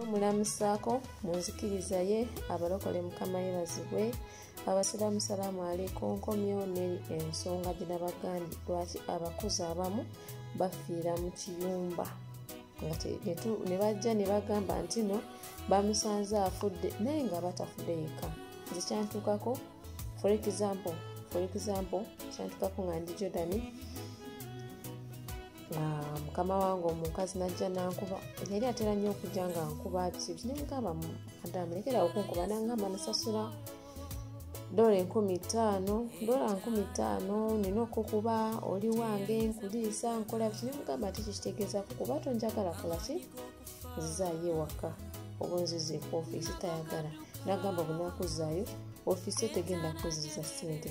omulamusaako mu nzikiriza ye abalokole mukama yebazibwe abasiraamu salaamu aleiko nkomyo neri ensonga gyenabagambye lwaki abakozi abamu bafiira mu kiyumba ne bajja ne bagamba nti no bamusanze afudde naye nga batafudde yekka nze kyantuukako for example for example kyantuukako nga ndi jordani Ah, mukama wange omukazi najja nankuba yali atera nnyo okujja nga nkuba bisibi nemugamba adamu lekera okunkuba nangamba nasasula dola enkumi ttaano dola nkumi ttaano nina okukuba oli wange nkuliisa nkola biki nemugamba ti kikitegeezaku kuba tonjagala kolaki nzizaayo ewaka oba nziza eku ofiisi tayagala nagamba bunakuzaayo ofiisi etegenda kuziza ssente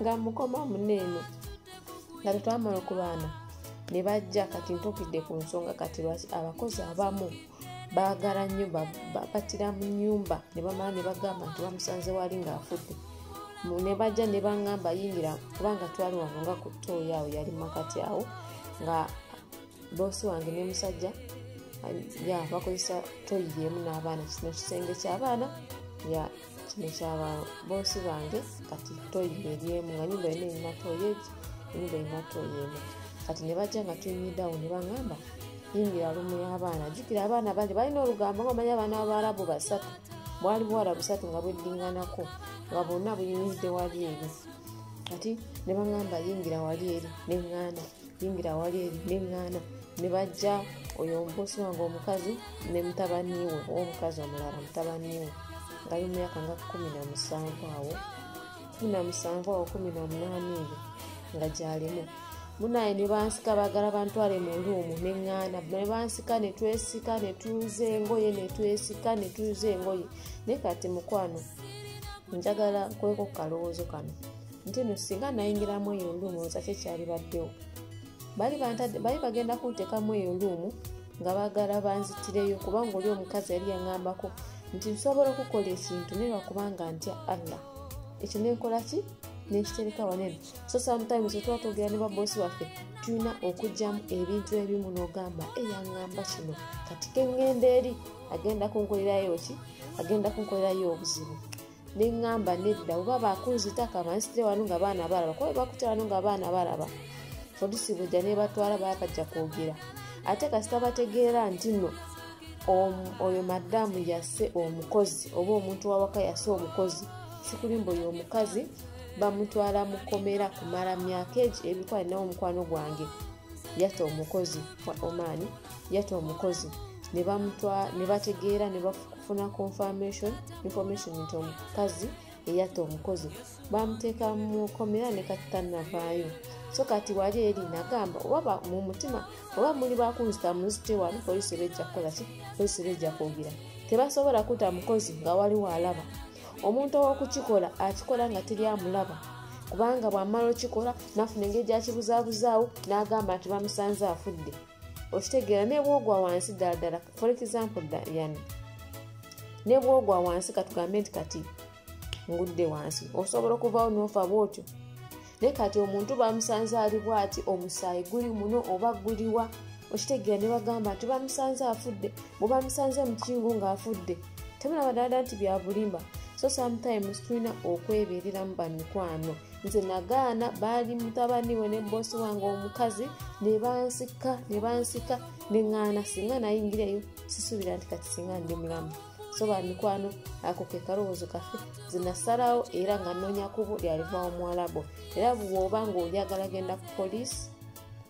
nga mukoma mune eno nga tetwamala okubaana ne bajja kati ntukidde ku nsonga kati lwaki abakozi abamu baagala nnyo batira mu nyumba ne bamala ne bagamba nti bamusanze wali ng'afudde ne bajja ne bangamba yingira kubanga twali wano nga ku tooyi awo yali makati awo nga boosi wange ne musajja ya bakozesa tooyi yeemu n'abaana kino kisenge ky'abaana ya kino kyaba boosi bange kati toyi eryemu nga nyumba yona erina toyi egi enyumba erina toyi emu kati ne bajja nga tunyiddawo ne baŋamba yingira lumu y'abaana jjukira abaana bangi balina olugambo nga omanyi abaana babaarabu basatu bwali buwala busatu nga bweddinganako nga bwonna buyimiridde wali eri kati ne baŋamba yingira wali eri ne ŋŋanda yingira awali eri neŋŋaana ne bajja oyo omubosi wange omukazi ne mutabaniwe omukazi omulala mutabaniwe ngali mu myaka nga kumi na musanvu awo kumi na musanvu awo kumi na munaana ebyo nga gyalimu munaye ne bansika bagala bantwale mu luumu neŋŋaana ne bansika ne twesika ne tuuza engoye ne twesika ne tuuza engoye naye kati mukwano njagala kweko ku kalowoozo kano nti no singa nayingiramu eyo luumu oza kyekyalibaddewo bali bagenda kuntekamu eyo luumu nga bagala banzitireyo kubanga oli omukazi yali yangambako nti nsobola okukola ekintu naye lwakubanga ntya allah ekyo nenkola ki nekitereka wanene so sometimes otuba twogera ne babosi waffe tulina okugyamu ebintu ebimu nogamba eyangamba kino kati kengenda eri agenda kunkolerayo ki agenda kunkolerayo obuzibu neŋŋamba nedda oba bakunzita kabansitire wano nga baana balaba kuba bebakuta wano nga baana balaba polisi bwejja nebatwala bakajja kwogera ate kasita bategeera nti no oyo madamu yase omukozi oba omuntu wawaka yase omukozi sikulimba oyo omukazi bamutwala mu komera kumala myaka egi ebikwa nawo omukwano gwange yata omukozi wa oman yata omukozi ne bategeera ne bafuna confirmation information nti omukazi eyatta omukozi bamuteeka mu komera ne kati tannavaayo so kati wali eri nagamba oba mu mutima oba muli bakunzita munzite wali polisi eba ejja kukola ki polisi eba ejja kwogera tebasobola kuta mukozi nga waliwo alaba omuntu owokukikola akikola nga teri amulaba kubanga bwamala okikola nafuna engeri gyakibuzabuzaawo n'agamba nti bamusanze afudde okitegeera nebwogwa wansi ddala ddala for example yani nebwogwa wansi katugambe nti kati ngudde wansi osobola okuvawo nofa bwotyo naye kati omuntu bamusanze ali bwati omusaayi guli muno oba guliwa okitegeera ne bagamba nti bamusanze afudde bwebamusanze mukingu ngaafudde temulaba dada nti byabulimba so sometimes tulina okwebereramu bamikwano nze nagaana baali mutabani we ne bosi wange omukazi nebansika nebansika neŋaana singa nayingireyo sisubira nti kati singa ndi mulamu so bamikwano ako kekalowoozo kafe zinasalawo era nga nonya kubo lyalivawo muwalabo era bwoba nga oyagala genda ku poliisi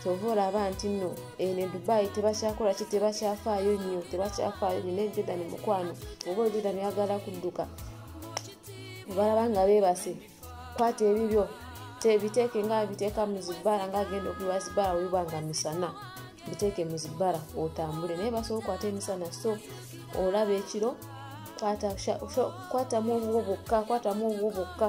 kyova olaba nti no eno eh, edubayi tebakyakola ki tebakyafaayo nnyo tebakyafaayo nyo naye jordan mukwano oba jordan yagala kudduka obalaba nga bebase kwata ebibyo tebiteeke nga biteeka mu zibbala nga agenda okubiwa zibbala webiba nga misana biteeke mu zibbala otambule naye basobola okwata emisana so olaba ekiro kwatamu obuwo bwokka kwatamu obuwo bwokka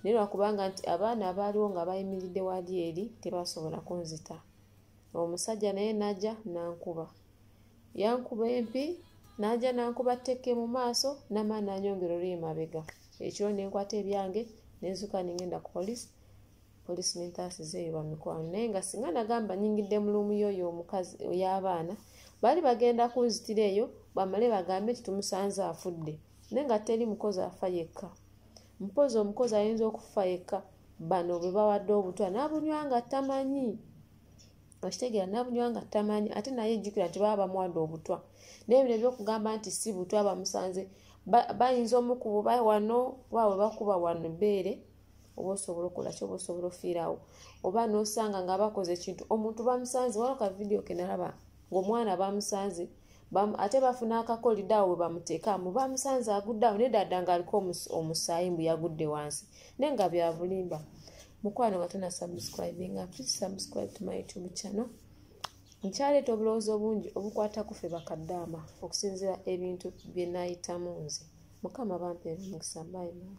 naye lwakubanga nti abaana abaaliwo nga bayimiridde wali eri tebasobola kunzita omusajja naye naja nankuba yankuba empi naja nankuba ttekke mu maaso namaa nanyongera oluye mabega ekiro nenkwata ebyange nenzuka nengenda ku polisi polisi nentaasiza eyo bamikwano naye nga singa nagamba nyingidde mulumu yoyo omukazi oyabaana baali bagenda kunzitira eyo bamale bagambe nti tumusanze afudde naye nga teri mukozi afa yekka mpozi omukozi ayinza okufa yekka bano bwe bawadde obutwa nabunywa nga tamanyi okitegeera nabunywa nga tamanyi ate naye ejjukira nti baba bamuwadde obutwa naye bino ebyokugamba nti si butwa bamusanze bayinza omukububa wano oba webakuba wano beere oba osobola okola kyoba osobola ofiirawo oba nosanga nga bakoze ekintu omuntu bamusanze wano ka vidiyo kenalaba ng'omwana bamusanze ate bafuna akakolida awo webamuteekamu bamusanze agudde awo nedada nga aliko omusaayi mbu yagudde wansi naye nga byabulimba mukwano nga tona subscribe nga please subscribe to my youtube channel nkyaleeta obulowoozi obungi obukwata kufe bakaddaama okusinzira ebintu byenayitamu nze mukama bampeera omukisa bayimaa